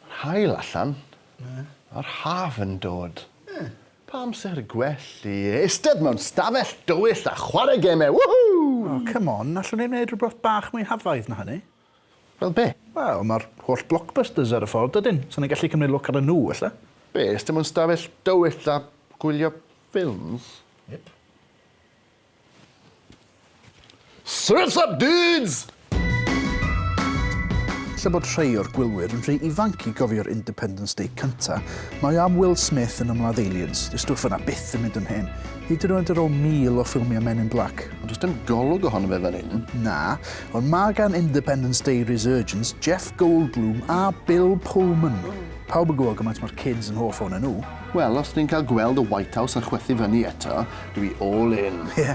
Yr haul allan. Yr haf yn dod. Pa amser gwell i eistedd mewn stafell dywyll a chwarae gemau, woohoo! O, come on, allwn ni wneud rhywbeth bach mwy hafaidd na hynny? Fel be? Wel, mae'r holl blockbusters ar y ffordd, dydyn? So ni'n gallu cymryd lwc arnyn nhw, ella? Be, eistedd mewn stafell dywyll a gwylio ffilms? Yep. Surf's up dudes! Lle bod rhei o'r gwylwyr yn rhy ifanc i gofio'r Independence Day cynta, mae am Will Smith yn ymladd Aliens, dyw stwff yna byth yn mynd yn hen, hyd yn oed ar ôl mil o ffilmiau Men in Black. Ond does dim golwg ohono fe fan hyn. Na, ond mae gan Independence Day Resurgence Jeff Goldblum a Bill Pullman. Pawb yn gwybod gymaint mae'r kids yn hoff ohonyn nhw. Wel, os ni'n cael gweld y White House yn chwythu fyny eto, Dwi all in. Ie.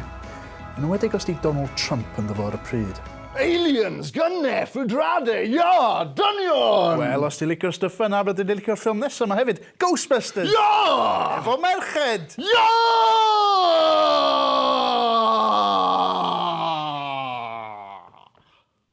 Yn enwedig os 'di Donald Trump ynddo fo ar y pryd. Aliens! Gunne! Fudrade! Ia! Dynion! Wel, os ti'n licio stuff fel 'na, byddwn i'n licio'r ffilm nesa 'ma hefyd, Ghostbusters! Ia! Efo merched! Ia!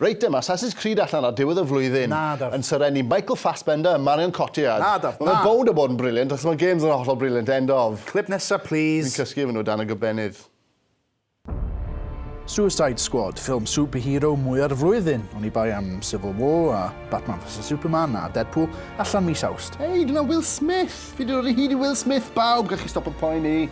Reit, mae Assassin's Creed allan ar diwedd y flwyddyn yn Sir Enni. Michael Fassbender a Marion Cotillard. Na, Daf, na! Mae fe'n bownd o bod yn brilliant, achos mae games yn hollol brilliant, end of. Clip nesa, plîs. Fi'n cysgu efo nhw dan y gobenydd. Suicide Squad, ffilm superhero mwya'r flwyddyn, oni bai am Civil War a Batman vs Superman a Deadpool, allan mis Awst. Hei, dyna Will Smith! Fi 'di dod o hyd i Will Smith, bawb! Gallwch chi stopo poeni.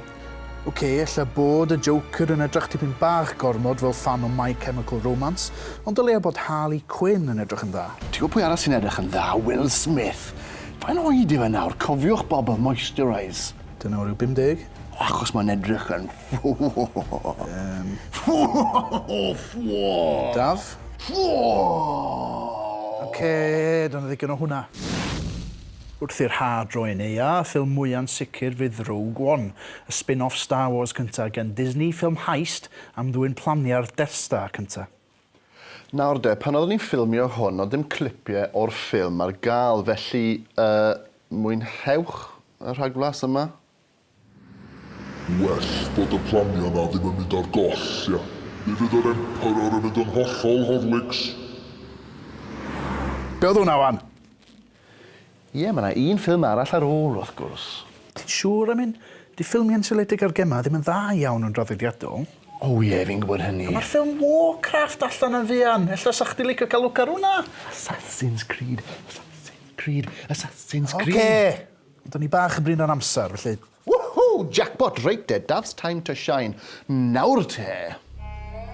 Ok, ella bod y Joker yn edrych tipyn bach gormod fel ffan o My Chemical Romance, ond dylia bod Harley Quinn yn edrych yn dda. Ti'n gwybod pwy arall sy'n edrych yn dda? Will Smith! Faint oed yw e nawr? Cofiwch bobl, moisturise! Dyna o ryw 50? Achos mae'n edrych yn Yym. Daf? Ok, dyna ddigon o hwnna. Wrth i'r haf droi'n neuadd, y ffilm mwya'n sicr fydd Rogue One, y spin-off Star Wars cynta gen Disney, ffilm heist am ddwyn planiau'r Death Star cynta. Nawr de, pan oeddwn i'n ffilmio hwn oedd dim clipie o'r ffilm ar gael, felly yy mwynhewch y rhagflas yma. Well bod y planiau na ddim yn mynd ar goll, ia? Mi fydd yr Emperor yn mynd yn hollol Horlicks. Be oedd hwnna wan? Ie, mae yna un ffilm arall ar ôl, wrth gwrs. Ti'n siŵr am hyn? 'Di ffilmiau'n seiliedig ar gemau ddim yn dda iawn yn draddodiadol. O ie, fi'n gwybod hynny. A mae'r ffilm Warcraft allan yn fuan. Ella 'sach chdi'n licio cael lwc ar hwnna? Assassin's Creed, Assassin's Creed, Assassin's Creed. Ocê! Do'n i bach yn brin ar amser, felly. Woohoo! Jackpot! Reit de, Daf's time to shine. Nawr te!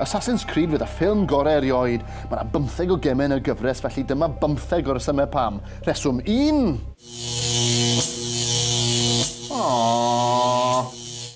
Assassin's Creed fydd y ffilm gorau erioed. Mae 'na bymtheg o gemau yn y gyfres, felly dyma bymtheg o resymau pam. Rheswm un! Aww!